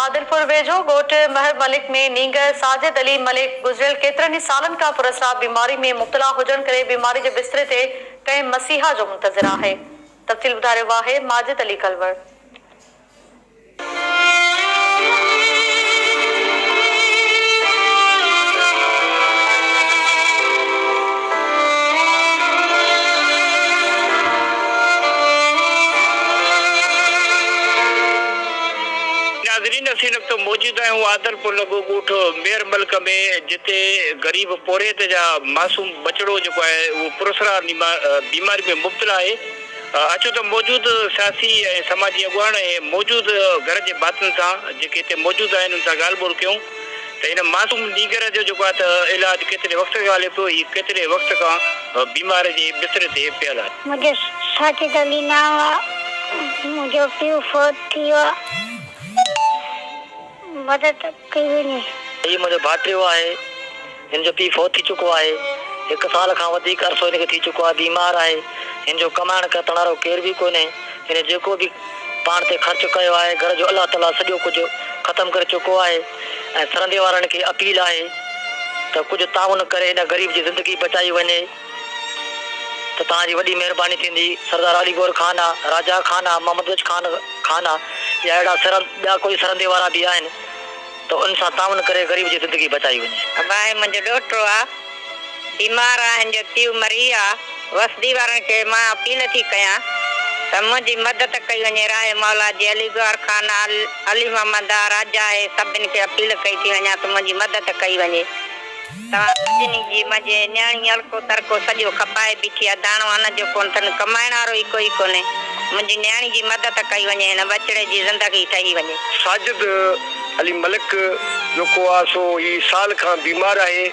عادلپور ويجهو ڳوٺ مهر ملڪ ۾ نينگر ساجد علي ملڪ گذريل ڪيترن ئي سالن کان پراسرار بيماري ۾ مبتلا هجڻ ڪري بيماري جي بستري تي ڪنهن مسيحا جو منتظر آهي تفصيل ٻڌائي رهيو آهي ماجد علي ڪلوڙ. ناظرين اسين وقت موجود آهيون عادلپور لڳو ڳوٺ مير ملڪ ۾ جتي غريب پورهيت جا معصوم ٻچڙو جيڪو آهي اهو پراسرار بيماري ۾ مبتلا آهي اچو ته موجود سياسي ۽ سماجي اڳواڻ ۽ موجود گهر جي ڀاتين سان جيڪي هتي موجود آهن ان سان ڳالهه ٻولهه ڪيون. ته هن معصوم نينگر جو جيڪو آهي ته علاج ڪيتري وقت کان هلي پيو، هي ڪيتري وقت کان بيماري جي بستري تي پيل آهي. منهنجو ساجد علي نانء آ، منهنجو پيء فوت ٿي ويو آ، مدد ڪئي وڃي. هي منهنجو ڀائٽيو آهي، هن جو پيء فوت ٿي چڪو آهي، هڪ سال کان وڌيڪ عرصو هن کي ٿي چڪو آهي، بيمار آهي، هن جو ڪمائڻ ڪرتڻ وارو ڪير به ڪونهي، هن جيڪو به پاڻ تي خرچ ڪيو آهي، گهر جو الله تعاليٰ سڄو ڪجهه ختم ڪري چڪو آهي. ۽ سرندي وارن کي اپيل آهي ته ڪجهه تعاون ڪري هن غريب جي زندگي بچائي وڃي ته توهان جي وڏي مهرباني ٿيندي سردار علي گور خان آ راجا خان آ محمد بچ خان خان آ يا اهڙا سرند ٻيا ڪوئي سرندي وارا به آهن ته ان سان تعاون ڪري غريب جي زندگي بچائي وڃي. ابراهيم منهنجو ڏوهٽو آ. بيمار آهن جو تيو مريا وسدي وارن کي مان اپيل ٿي ڪيان ته منهنجي مدد ڪئي وڃي راهي مولا جي علي گوهر خان علي محمد آء راجا هي سڀن کي اپيل ڪئي ٿي وڃان ته منهنجي مدد ڪئي وڃي توهان سڀني جي منهنجي نياڻي الڪو ترڪو سڄو کپائي بيٺي آهي داڻو ان جو ڪونه ٿن ڪمائڻ وارو ئي ڪوئي ڪونهي منهنجي نياڻي جي مدد ڪئي وڃي هن ٻچڙي جي زندگي ٺهي وڃي. ساجد علي ملڪ جو ڪو آ سو هي سال کان بيمار آهي.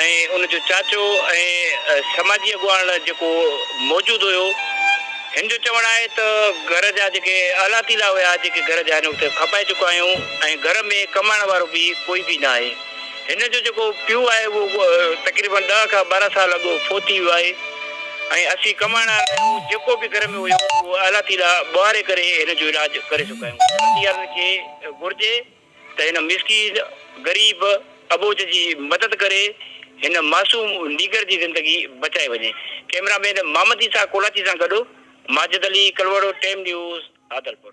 ۽ ان جو چاچو ۽ سماجي اڳواڻ جيڪو موجود هيو هن جو چوڻ آهي ته گهر جا جيڪي آلا تيلا هيا جيڪي گهر جا هن وقت کپائي چڪا آهيون ۽ گهر ۾ ڪمائڻ وارو به ڪوئي به نه آهي هن جو جيڪو پيو آهي اهو تقريبن ڏهه کان ٻارهن سال اڳ فوت ٿي ويو آهي ۽ اسين ڪمائڻ آلا آهيون جيڪو به گهر ۾ هيو اهو آلا تيلا ٻوهاري ڪري هن جو علاج ڪري چڪا آهيون جلدي عرض کي گهرجي ته هن مسڪين، غريب، اٻوجهه جي مدد ڪري هن معصوم نيگر جي زندگي بچائي وڃي. ڪئميرا مين محمد عيسيٰ ڪولاچي سان گڏ ماجد علي ڪلوڙو، ٽيم نيوز، عادلپور.